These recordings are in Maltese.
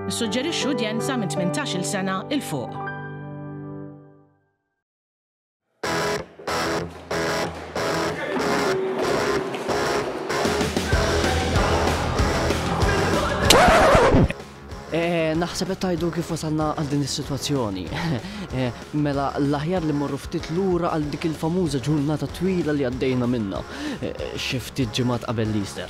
Nissuġġerixxu udjenza minn 18-il sena 'il fuq. Naħseb qed tgħidu kif wasalna għal din is-sitwazzjoni. Mela l-aħjar li mmorru ftit lura għal dik il-famuża ġurnata twila li għaddejna minnha xi ftit ġimgħat qabel l-Easter.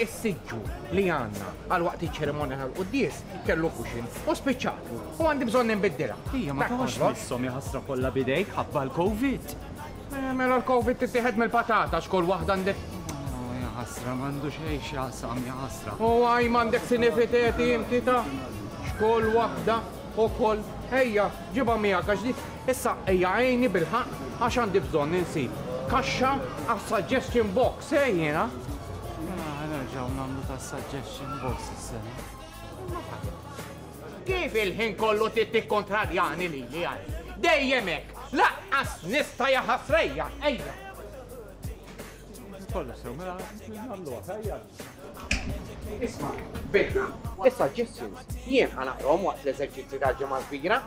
Is-siġġu li għandna għal waqt iċ-ċerimonja tal-quddies kellu kuxin u spiċċatu u għandi bżonn inbiddilha. Ija, ma tawx missom jaħasra kollha bidejk ħabba l-Covid. Eh, mela l-Covid tittieħed mill-patata xkol waħda għandek ħasra mandu xej xasam jaħasra. U għaj mandek sinifiteti inti ta' xkol wahda u kol ejja ġiba mija għax issa ejja għajni bil-ħaq għax għandi bżon ninsi kaxxa għas suggestion box. Sej jiena. Ah, nerġaw namlu ta' suggestion box s-sena. Kif il-ħin kollu tittik kontradjani li li għaj? Dejjemek, laqqas nista jaħasrejja, ejja. Kollu sew, mela, namlu għajja. Isma, bidna. Issa ġissin, jien ħanaqrom waqt l-eżerċizzi ta' ġemma kbira.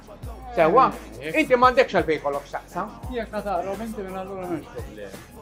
Sewa, inti mandekx għal-bej kollok xaqsa. Jek ħataqrom, inti minn allura minn problemi.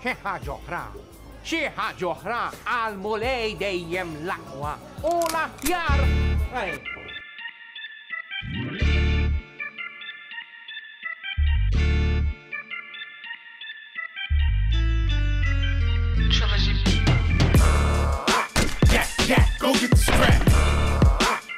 Xi ħaġa oħra, xi ħaġa oħra għall-Mulej dejjem l-aqwa u l-aħjar!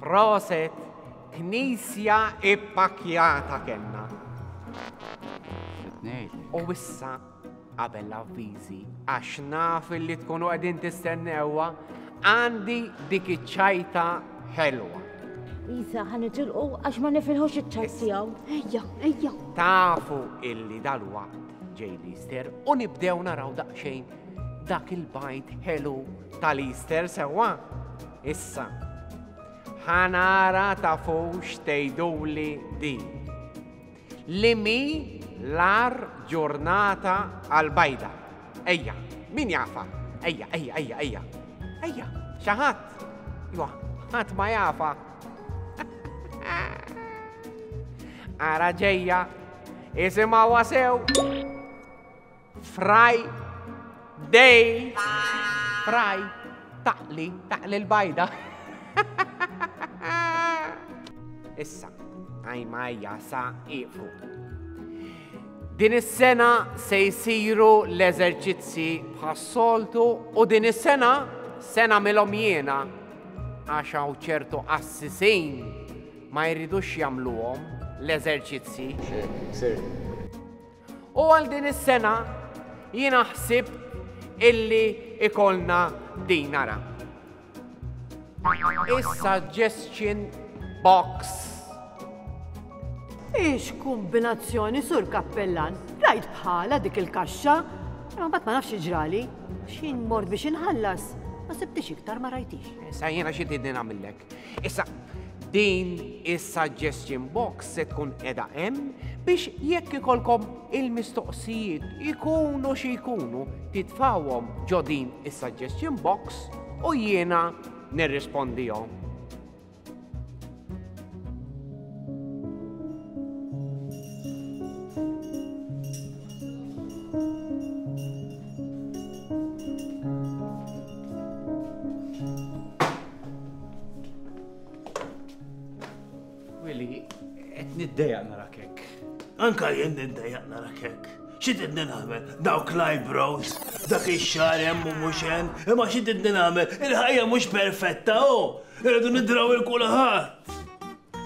Proset, knisja ippakjata kellna. U issa qabel l-avviżi għax naf li tkunu qegħdin tistennewa għandi dik iċ-ċajta ħelwa. Isa, ħan itilqu għax ma nifilħux iċ-ċar tiegħu. Ejja, ejja. Tafu illi dal-waqt ġej l-Easter u nibdew naraw daqsxejn dak il-bajt ħelu tal-Easter sewwa. Issa, ħanara tafux tejduli di. Li mhi l-agħar ġurnata għall-bajda? Ejja, min jafha? Ejja, ejja, ejja, ejja. Ejja, xi ħadd? Iwa, ħadd ma jafha. Ara ġejja, isimgħuha sew. Fraj, dej, fraj, taqli, taqli l-bajda. Issa, għajma jasa iqfu. Din is-sena se jisiru l-eżerċizzi bħas-soltu u din is-sena sena milhom jiena għax hawn ċertu assisin ma jridux jagħmluhom l-eżerċizzi. U għal din is-sena jiena ħsibt illi ikollna din ara. Is-suggestion box. Ix kumbinazzjoni sur kappellan, rajt bħala dik il-kaxxa, imma bat ma nafx iġrali, xin mort biex inħallas, ma sibtix iktar ma rajtix. Sa jiena xi tidni nagħmillek. Issa, din is-suggestion box se tkun edha hemm biex jekk ikolkom il-mistoqsijiet ikunu xi jkunu titfawhom ġo din is-suggestion box u jiena nirrispondihom. Willi, qed niddeja nara kek. Anka jien niddeja nara kek. Xi trid nagħmel? Dawk l-eyebrows, dak ix-xar hemm u mhux hemm, imma xi trid nagħmel? Il-ħajja mhux perfetta, u oh! irridu nidraw il-kulħadd.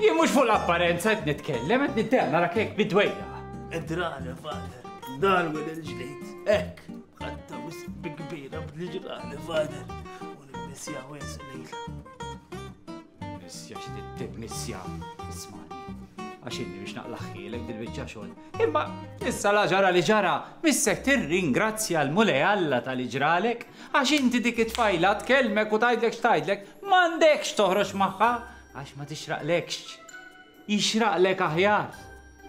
Jien mhux fuq l-apparenza qed nitkellem, qed niddeja nara kek bidwejja. Idrana, fader, darwin il-ġdid, hekk, ħatta wisq bi kbira bl-ġrani, fader. Nisja wis lejl. Nisja x'tittib nisja. Ismani. Għax inni biex naqlaħħilek dil-biċċa xogħol. Imma issa la ġara li ġara, missek tirringrazzja l-Mulej Alla tal-li ġralek, għax inti dik it-tfajla tkellmek u tgħidlek x'tgħidlek, m'għandekx toħroġ magħha għax ma tixraqlekx. Jixraqlek aħjar.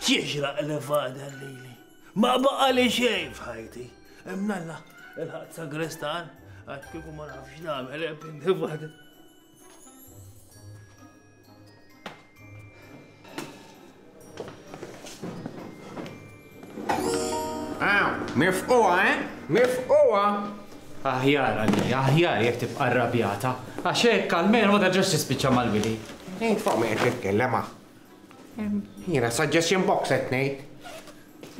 Jixraq li fada lili. Ma baqali xejn f'ħajti. Imnalla, il-ħadd sagrestan, għax kieku ma nafx nagħmel pinti Mifquwa, eh? Mifquwa! Aħjar għalli, aħjar jek tibqa rabjata. Għaxek, almenu ma terġax tispiċċa mal-wili. Int fuq me qed titkellem Jiena suggestion box qed ngħid.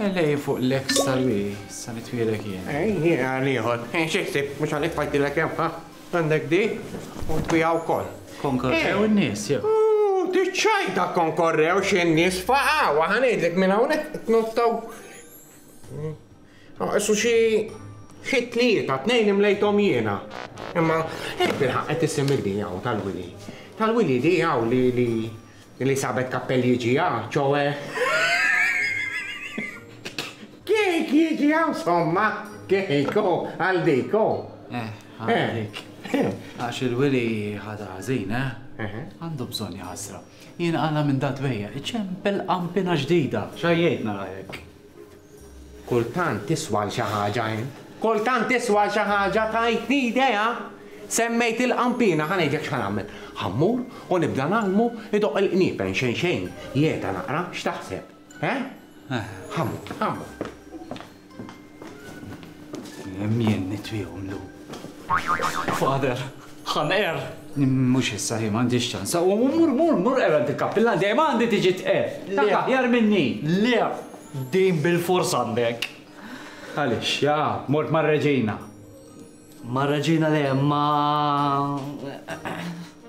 Elej fuq l-ex tal-wi, sa li twielek jien. Ej, jiena għal ieħor. Ej, xi ħsieb, mhux għalik fajtilek hemm, ha? Għandek di u tbiegħha wkoll. Konkorrew in-nies jew? Ooh, diċċajta konkorrew xi nies faqgħu, ħa ngħidlek minn hawnhekk tnottaw. Issu xi xi tlieta, tnejn imlejthom jiena. Imma, ej, bilħaq qed isim il-di hawn tal-wili. Tal-wili di hawn li li Li sabet kappell jiġi hawn, ċoe kejk jiġi hawn somma, kejk ho, għal dik ho. Eh, għal dik. Għax il-wili ħadha ħażin, eh? Għandu bżonn jaħasra. Jien għala minn dat bejja, iċempel qampina ġdida. X'għajjejtna rajek? Kultant tiswa għal xi ħaġa int. Kultant tiswa għal xi ħaġa, tajtni idea! Semmejt il-qanpiena, ħa ngħidlek x'ħa nagħmel. Ħa mmur u nibda ngħallmu jdoqq il-qniepen xejn xejn, jegħta naqra, x'taħseb? Eh? Ħa mmur, ħa mmur. Kemm jien nitfiehom llum. Father, Ħanqer! Mhux issa, hi m'għandhiex ċans. U mur, mur, mur qer għand il-kappillan, dejjem għandi tiġi tqer. Dak aħjar minni. Le, din bilfors għandek. Għaliex, ja, mort mar-Reġina. Mar-Reġina le, ma.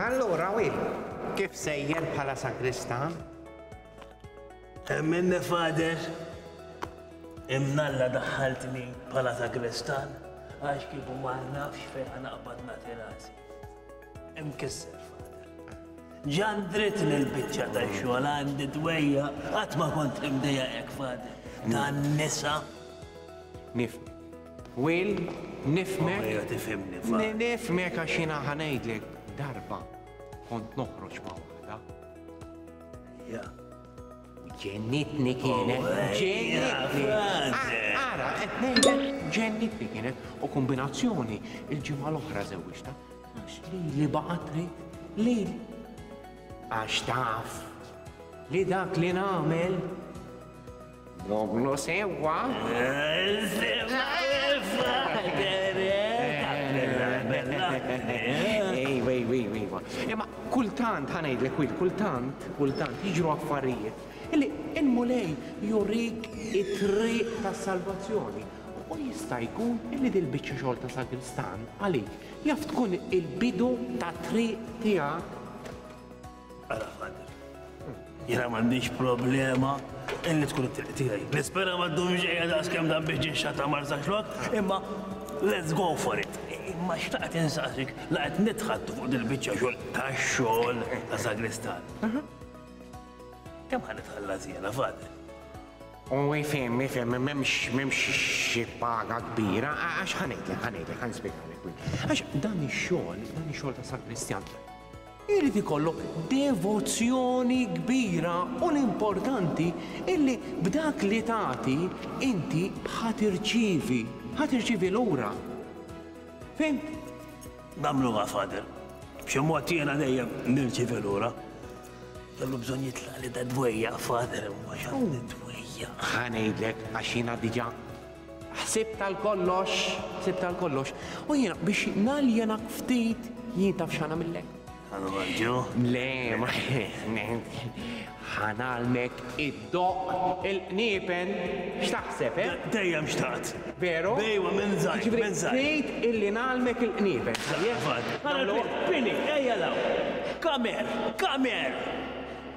Allura wi, kif sejjer bħala sagristan? Emmen fader, imnalla daħħaltni bħala sagristan, għax kif ma nafx fejn ħanaqbad nagħti rasi. Imkisser fader. Ġan dritt li l-biċċa ta' xogħol għandi dwejja qatt ma kont imdejja hekk fader. Dan nisa. Nifni. Will, nifhmek. Oh, ejja tifhimni, Fahd. Nifhmek għax jiena ħa ngħidlek darba kont noħroġ ma' waħda. Ja. Ġennitni kienet, oh, ġennitni. Ara, qed ngħidlek ġennitni kienet u kombinazzjoni il-ġimgħa l-oħra żewġta. Għax li li baqgħet trid li għax taf li dak li nagħmel Nogħmlu sewwa. Ejwa, ejwa, ejwa, ejwa. Imma kultant, ħanajdlek wil, kultant, kultant, jiġru affarijiet. Illi il-mulej jurik it-triq ta' salvazzjoni. U jista' jkun illi dil-biċċa xogħol ta' sagristan għalik jaf tkun il-bidu ta' triq tiegħek Jena mandiġ problema illi tkun it-triq tiegħi. Nispera ma ddumx qiegħda daqskemm dan biex ġinxata marza xlok, imma let's go for it. Imma xtaqt insaqsik la qed nitħattu fuq dil-biċċa xogħol tax-xogħol ta' sagristan. Kemm ħan itħallas jiena fadel? U jifhem, jifhem, m'hemmx m'hemmx xi paga kbira, għax ħanejtek, ħanejtek, ħanspjegħu. Għax dan ix-xogħol, dan ix-xogħol ta' sagristjan, Irid ikollok devozzjoni kbira u l-importanti illi b'dak li tagħti inti ħa tirċievi, ħa tirċievi lura. Fhimt? Nagħmluha, Father. B'xi mod jiena dejjem nirċievi lura. Kellu bżonn jitlaq li da dwejja, Father, imma x'għandi dwejja. Ħa ngħidlek għax jiena diġà Ħsibt għal kollox, ħsibt għal kollox, u jiena biex naljenak ftit jien taf x'għanamillek. Għanamilġu? Le, ma ħanalmek id-doq il-qniepen x'taħseb, eh? Dejjem xtaqt. Veru? Bejwa minn żgħir, jiġifieri minn żgħir. Trid illi nagħlmek il-qniepen. Għal pini, ejja law. Kamer, kamer!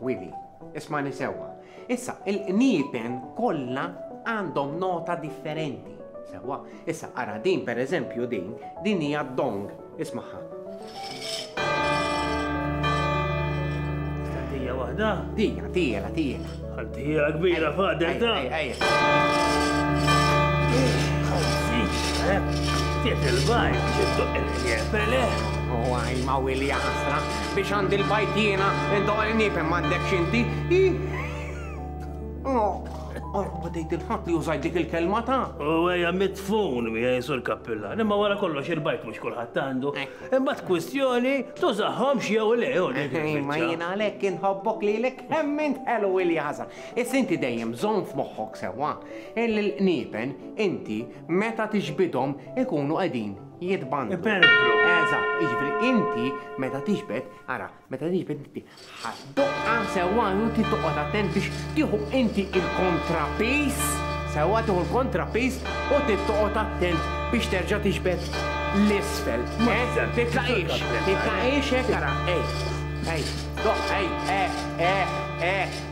Willy, ismagħni sewwa. Issa, il-qniepen kollha għandhom nota differenti. Sewwa, issa ara din pereżempju din, din hija dong, ismagħha. Tija waħda? Dija, tijela, tijela. Għantija kbira fader ta' Tiet il-bajn, ġittu il-jepele. U għaj ma' wilja ħasra, Biex għandi l-bajt jiena, indoq il-niepen m'għandekx inti. Għarru ma tgħid il-ħadd li użajt dik il-kelma ta'. U għeja mitfun mi għaj sur kappilla. Nimma wara kollox il-bajt mux kullħat għandu. Imma t-kwistjoni tużaħħom xiew le u dik. Ma jina lek inħobbok li lek hemmin ħelu il-jaza. Is inti dejjem zon f'moħħok sewa. Il-nipen inti meta tiġbidhom ikunu qegħdin jitbandu. Iperbru. Eżatt, jiġifieri inti meta tiġbed, ara, meta tiġbed inti ħaddoqqa sewwa inti toqgħod attent biex tieħu inti il-kontrapis, sewwa tieħu l-kontrapis u tittoqgħod attent biex terġa' tiġbed l-isfel. Eh? Titlaqix, titlaqix hekk ara, ej, ej, doq, ej, eh, eh, eh.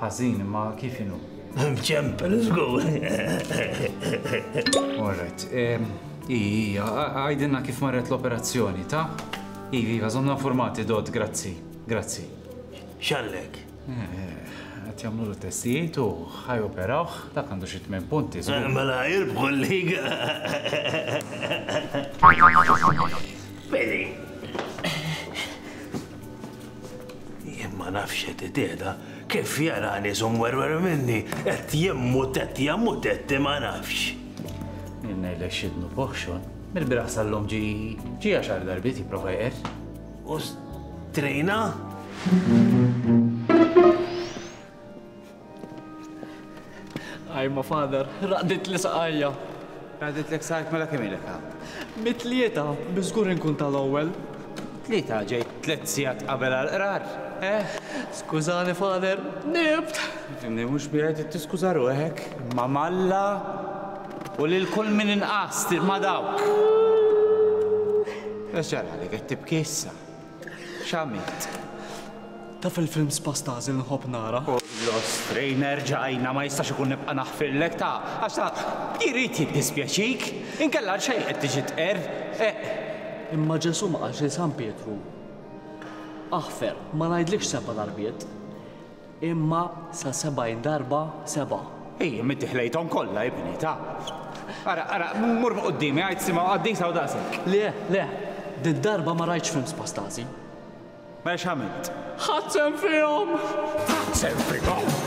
Ħażin, ma kif inhu? Ċempel żgur. Alright. Ija, għajdinna kif marret l-operazzjoni, ta? Ivi, għazonna formati dot, grazzi, grazzi. Xallek? Qed jagħmlu l-testijiet u ħaj operawh, dak għandu xi tmien punti. Mela jirbħu l-liga. Bedi. Jien ma nafx qed itihda kif jarani żum werwer minni qed jemmu tett jammu tett ma nafx. Jien ngħidlek xidnu boħxon, mill-biraħ sal-lum ġi ġi għaxar darbiet jipprova jqer. Ostrina? Ajma father, raqdit li saqajja. Raqdit li saqajk mela kemm ilek Mit-tlieta, biżgur inkun tal-ewwel. Tlieta ġej tliet sigħat qabel għal-qrar. Eh, skużani father, nibt. Fimni mhux biegħed tiskuża ruħek ma' malla. U lil kull min inqast ma' dawk. X'ġara li qed tibki issa? X'għamilt? Taf il-films pa' Stasi li nħobb nara? Kollox strejn erġajna ma jistax ikun nibqa' naħfirlek ta' għax ta' jrid jiddispjaċik. Inkella għal xejn qed tiġi tqerr, eqq. Imma Ġesù ma qalx lil San Pietru, Aħfer, ma ngħidlikx sebba darbiet. Imma sa sebgħin darba seba'. Ejjem inti ħlejthom kollha ibni, taf. Ara, ara, mur fuq quddiemi, għid sima u qaddisa u daqshekk. Le, le, dil-darba ma rajtx film spastażi. Mela x'għamilt? Ħadt sehem fihom! Ħadt sehem fihom!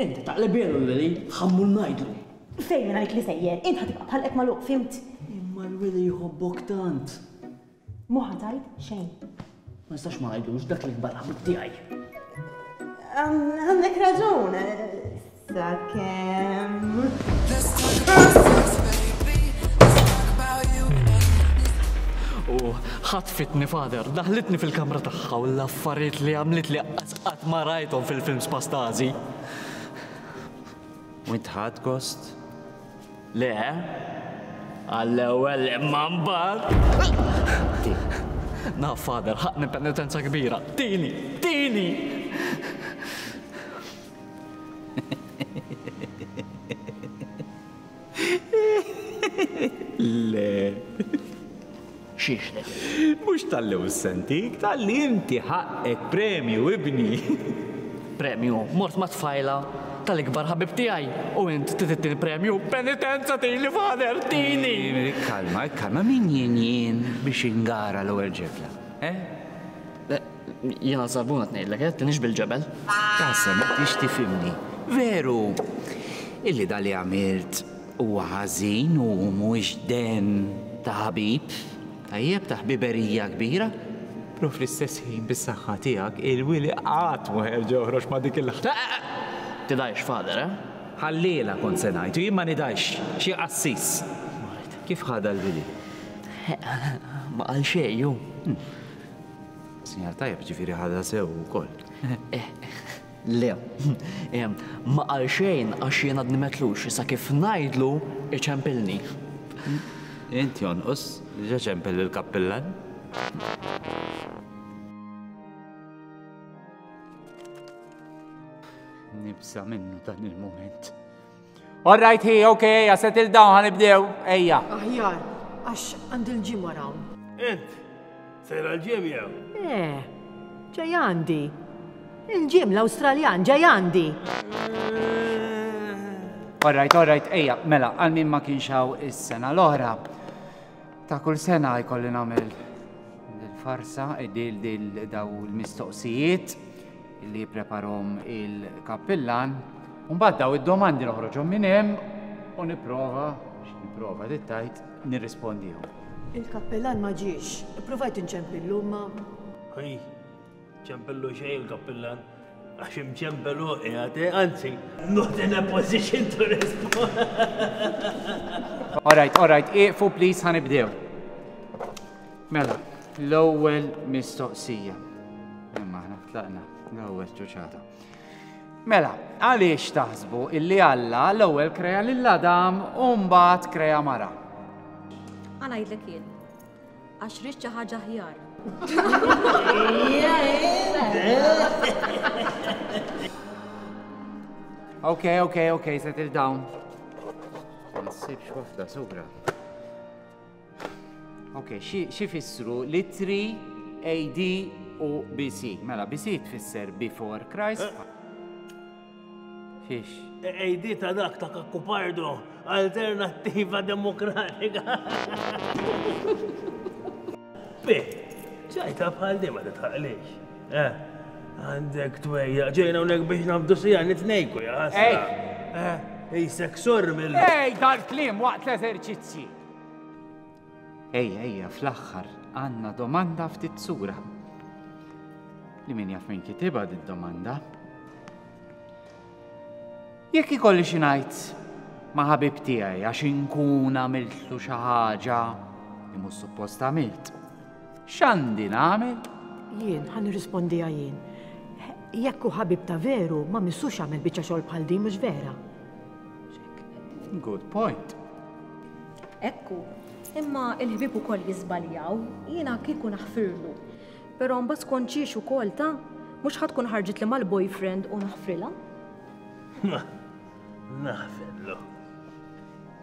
Int taqlibielu l-wili, ħammu ngħidlu. Fejn ngħid li sejjer, int ħa tibqa' b'ħalqek magħluq, fhimt? Imma l-wili jħobbok tant. Mhu ħa tgħid xejn. Ma nistax ma ngħidlux dak li nbata' ħabib tiegħi. Għandek raġun, sakemm. U ħatfitni, Father, daħħlitni fil-kamra tagħha u l-affarijiet li għamlitli. Qatt ma rajthom fil-films pa' Stasi. U int ħadt gost? Le. Għall-ewwel imma mbagħad. Tieni. Naf, Father, ħaqqni penitenza kbira. Tieni! Tieni! Le. Xiex le? Mhux talli hu sentik, talli inti ħaqqek premju, ibni. Premju? Mort ma' tfajla tal-ikbar ħabib tiegħi u int trid it-tieni premju? Penitenza tini, Father, tini! Ikkalma, ikkalma, min jien jien biex ingara l-ewwel ġebla, eh? Jiena żarbun qed ngħidlek eh, tinhiex bil-ġebel. Tassew ma tridx tifhimni. Veru illi dak li għamilt huwa ħażin u mhuwiex dehn ta' ħabib tajjeb, ta' ħbiberija kbira, però fl-istess ħin bis-saħħa tiegħek il-wili qatt ma jerġa' joħroġ ma' dik il-. Tidgħidx father eh? Ħalliela kont se ngħid u jien ma nidgħidx, xi qassis. Kif ħadha l-wili? Ma qal xejn hu. Sinjal tajjeb, ġifieri ħadha sew ukoll. Le, ma qal xejn għax jien għadni metlux, issa kif ngħidlu iċempilni. Int jonqos, diġà ċempel lill-kappillan. Nibża' minnu dan il-mument. All right, hi, ok, ejja, settle down, ħanibdew, ejja. Aħjar, għax għand il-ġimma rawn. Int, sejra l-ġim jew? Eh, ġej għandi. Il-ġim l-Awstraljan ġej għandi. All right, all right, ejja, mela, għal min ma kienx hawn is-sena l-oħra. Ta' kull sena jkolli nagħmel il-farsa, id-dil dil daw l-mistoqsijiet. li jippreparhom il-kappillan, u mbagħad daw id-domandi noħroġhom minn hemm u nipprova, nipprova tittajt, nirrispondihom. Il-kappillan ma ġiex, ippruvajt inċempillu imma. Hi, ċempillu xejn il-kappillan, għax imċempel hu qiegħed, eh, anzi, not in a position to respond. All right, all right, iqfu please ħanibdew. Mela, l-ewwel mistoqsija. Imma aħna tlaqna l-ewwel ċuċata. Mela, għaliex taħsbu illi Alla l-ewwel kreja lil Adam u mbagħad kreja mara? Għana jidlek jien. Għax rix xi ħaġa ħjar. Ok, ok, ok, settle down. Ma nsibx wafda, subra. Ok, xi fissru litri AD u BC? Mela, BC tfisser before Christ. Eh. Fiex. AD ta' dak ta' kakkupardu, alternativa demokratika. Bi, ċajta bħal dima li tħaqlix. Eh, għandek twejja, ġejna unek biex nabdu sija nitnejku, ja. Ej! Eh, ej, seksur mill. Ej, dal-klim waqt l-eżerċizzji. Ejja, ejja, fl-aħħar għandna domanda ftit sura. Li min jaf minn kitiba di domanda. Jekk ikolli xi ngħid ma' ħabib tiegħi għax inkun għamiltlu xi ħaġa li mhux suppost għamilt. X'għandi nagħmel? Jien ħan nirrispondiha jien. Jekk hu ħabib ta' veru ma missux għamel biċċa xogħol bħal din mhux vera. Good point. Ekku, imma il-ħbib ukoll jiżbaljaw, jiena kieku naħfirlu. Però mbagħad tkun ċiex ukoll ta' mhux ħadd tkun ħarġit li mal-boyfriend u naħfrilha. Naħfirlu.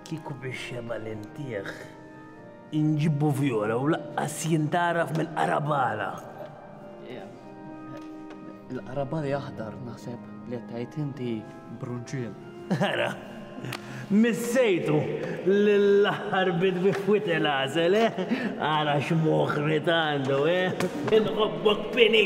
Kieku biex jema l-intieħ Inġibbu Viola u laqqas jintgħaraf mill-qarabala. Il-qarabali aħdar naħseb li qed tgħid inti brunċiel. Ara, missejtu lill-aħħar bit bi fwit il-għażel, eh? Ara x'moħħ li għandu, eh? Inħobbok pini!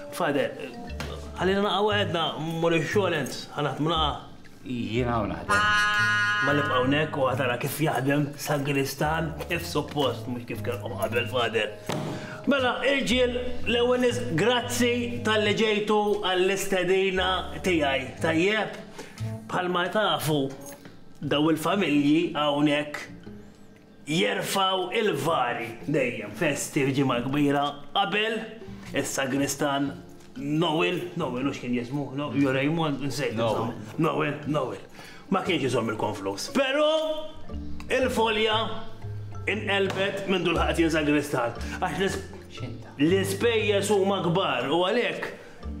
Father, Ħallina naqa' waħedna, mmur ix-xogħol int, ħa naħdmu naqa'. Jiena hawn naħdem. Ma nibqa' hawnhekk u ħa tara kif jaħdem sagristan kif suppost, mhux kif kellkom qabel, Father. Mela, irġiel, l-ewwel nies grazzi talli ġejtu għall-istedina tiegħi, tajjeb? Bħalma tafu, dawn il-familji hawnhekk, Jerfgħu l-vari dejjem festi f'Ġimgħa Kbira qabel is-sagristan Noel, Noel hux kien jismu? Jew Raymond? Insejt insomma. Noel, Noel. Ma kienx iżomm il-konflus. Però il-folja inqelbet mindu lħaqet jien sagristan għax l-ispejjeż huma kbar u għalhekk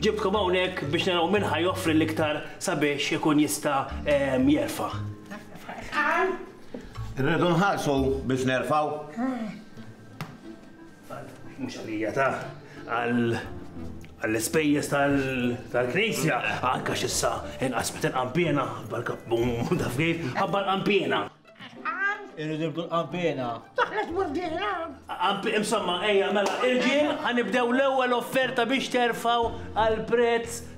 ġibtkom hawnhekk biex naraw min ħa joffri l-iktar sabiex ikun jista' jerfa'. Irridu nħarsu biex nerfaw. Mhux għalija ta' għal għall-ispejjeż tal-knisja, anka xissa inqas meta nqampjena, bal-kappum taf kif, ħabba nqampjena. Irridu nibdu nqampjena. Taħlet murdina. Qampi imsamma, ejja, mela, irġiel, ħanibdew l-ewwel offerta biex terfaw għal prezz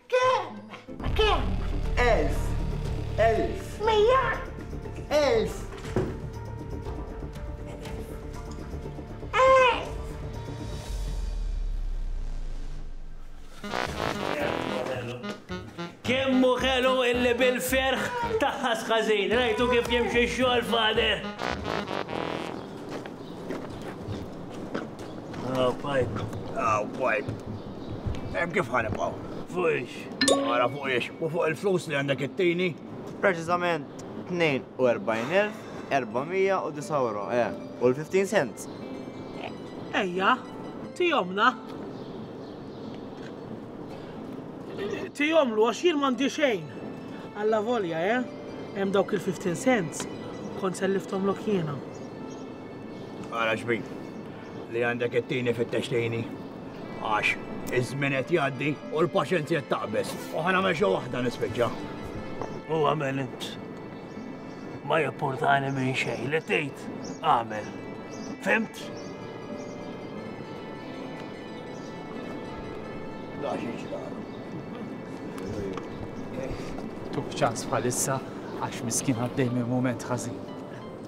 Kemm? Ma kemm? Elf. Elf. Mija. Elf. Kemmu ħelu illi bil-ferħ taħħas ħażin, rajtu kif jimxi xogħol fader. Ah, pajp. Ah, pajp. Hemm kif ħanibqgħu? Fuqiex. Ara fuqiex. U fuq il-flus li għandek it-tini? Preċiżament 42,409 euro, eh, u l-15 cents. Ejja, tijomna. Tijomlu għax jien mandi xejn. Alla volja, eh? Hemm dawk il-15 cents. Kont selliftom l jiena. Ara xbin li għandek it-tini fit-textini għax iż-żmien qed jgħaddi u l-paċenzja taqbeż. U ħana ma xi waħda nispiċċa. U għamel int. Ma jipportani minn xejn li tgħid għamel. Fimt? Tuk ċans bħalissa għax miskin għaddej minn moment ħażin.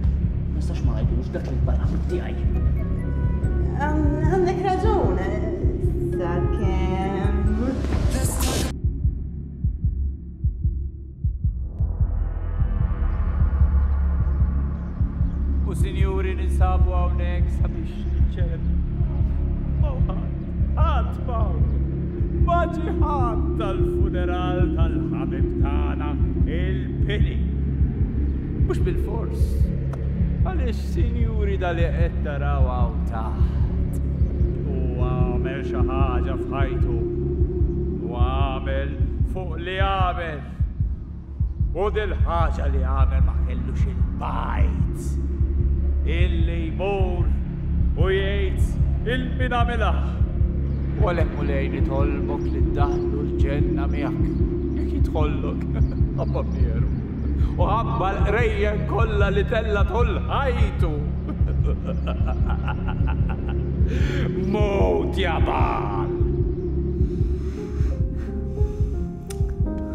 Ma nistax ma ngħidux dak li barra fuq tiegħi. Għandek raġun, sakemm. U sinjuri ninsabu hawnhekk sabiex niċċeleb. Mawħat, ħadd maw. Maġi ħadd tal-funeral tal-ħabib tagħna il-pili. Mhux bilfors. Għaliex, sinjuri, da li qed taraw hawn taħt, huwa għamel xi ħaġa f'ħajtu. U għamel fuq li għamel. U dil-ħaġa li għamel ma kellux il-bajt illi jmur u jgħid il-min għamilha. U għalhekk mulej nitolbok li ddaħlu l-ġenna miegħek. Jekk jidħollok, abba mieru. u ħabba l-qrejjen kollha li tella' tul ħajtu. Mut ja Baal!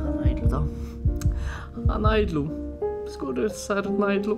Ħanajdlu da. Ħanajdlu. Skur sar najdlu.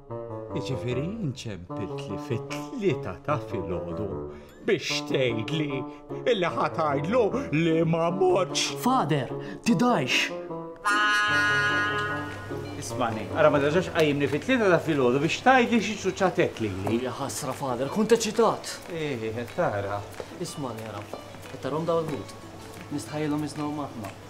Jiġifieri inċempiltli fit-tlieta ta' filgħodu biex tgħidli illi ħatajdlu li ma mortx. Father, tidgħix! Ismani, ara ma terġax qajjimni fit-tlieta ta' filgħodu biex tgħidli xi ċuċċatet lili. Ja ħasra father, kont eċitat. Eh, tara. Ismani ara, qed tarhom daw il-ħut. Nistħajjilhom jiżnhom aħna.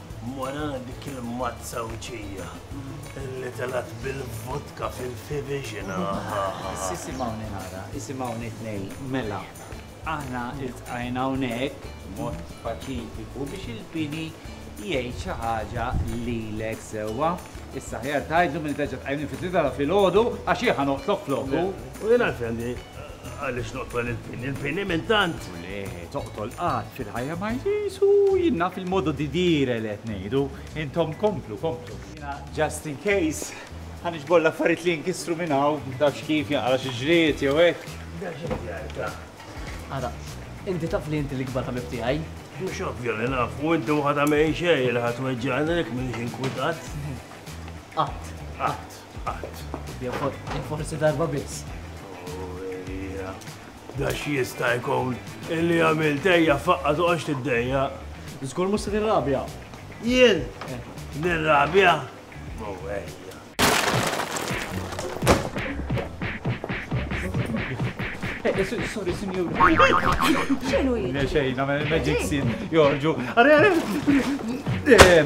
Wara dik il-mazza wċija li telgħet bil-vodka fil-fiviġin aha! Biss isimgħuni nara, isimgħuni tnejn, mela, aħna ltqajna hawnhekk b'mod paċifiku biex il-pieni jgħid xi ħaġa lilek sewwa. Issa aħjar tgħidlu milli terġa' tqajmni fit-tlieta ta' filgħodu għax jien ħa noqtlok floku. U jien għalfejn għandi Għaliex noqtol il-pini? Il-pini minn tant? U le, toqtol qatt fil-ħajja ma jsisu jinna fil-modu di dire li qed ngħidu. Intom komplu, komplu. Jiena just in case ħan iġbor l-affarijiet li jinkisru minn hawn, tafx kif jaqra xi ġried jew hekk. Ara, inti taf li inti l-ikbar ħabib tiegħi? Mhux ovvja li naf, u inti waħda minn xejn li ħadd weġġgħani lek minn xi nkwitat. Qatt, qatt. Qatt. Jew forsi darba biss. Ija, da x'jista' jkun illi għamilt ejja faqqa toqgħodx tiddejja. Żgur mhux se tirrabja. Jien? Nirrabja? Mo ejja. Sorry, sinjur. Xinu jien? Xejn, nagħmel magic scene, jorġu. Għare, għare!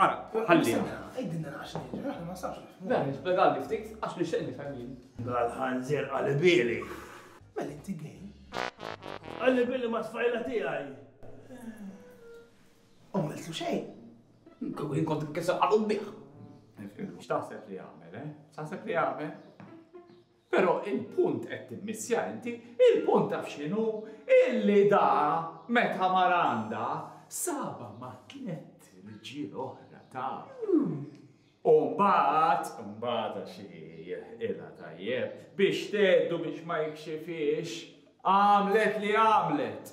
Ara, ħallina. Ejdinna għax nidri, aħna ma sabx. Dan ispjegali ftit għax li xejn nifhem jien. Dal-ħanżir qalibili. Mela inti gej. Qalibili ma tfajla tiegħi. U miltu xejn. Kien kont kisa qalub bih. X'taħseb li għamel, eh? Taħseb li għamel? Però il-punt qed timmissja inti, il-punt taf x'inhu? Illi da meta mara għandha, sabha ma' tlett rġiel oħra taf. U mbagħad, mbagħad għax hi jirħqilha tajjeb, biex tgħeddu biex ma jikxifhiex, għamlet li għamlet.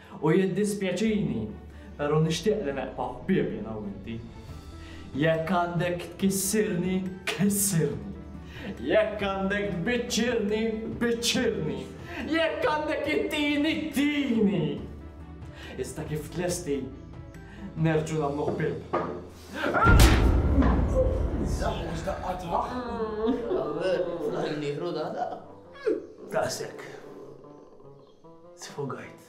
U jiddispjaċini, pero' nixtieq li neqpa' ħbieb jiena u inti. Jekk għandek tkissirni, kissirni. Jekk għandek tbiċċirni, biċċirni. Jekk għandek ittini, tini. Iżda kif tlesti, nerġgħu nagħmlu ħbieb. Żagħ u żdaqqa tmah. Ħalli nieħru daqqa. Daqshekk. Sfogajt.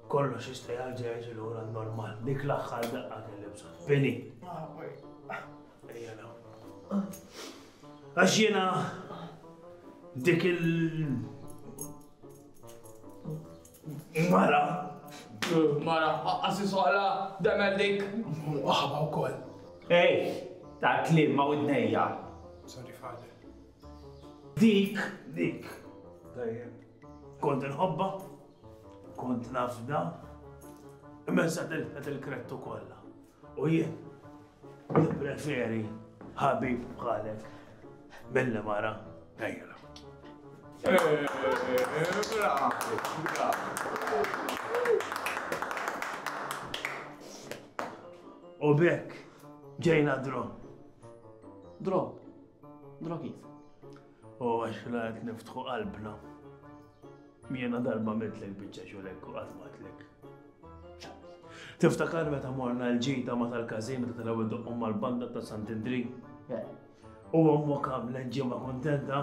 Kollox jista' jarġa' jiġi lura normal. Dik l-aħħar daqqa kelli bżonn. Bini. Ejja naw. Għax jiena dik il Mara. Mara, għassi soqla, demel dik. Waħba u koll. Ej, ta' klim ma' widnejja. Sorry, father. Dik, dik. Tajjeb. Kont inħobba, kont nafda, imma sa tilfet il-krettu kollha. U jien nippreferi ħabib bħalek mill mara għajra. U bekk ġejna drom. Drom. Drogiet. U għax la qed niftħu qalbna. Jiena darba mitlek biċċa xulek u qatt matlek. Tiftakar meta morna l-ġita ma tal-każin meta tal-ewwel doqqhom mal-banda ta' Sant'Indri? U ommok għamlet ġimgħa kuntenta?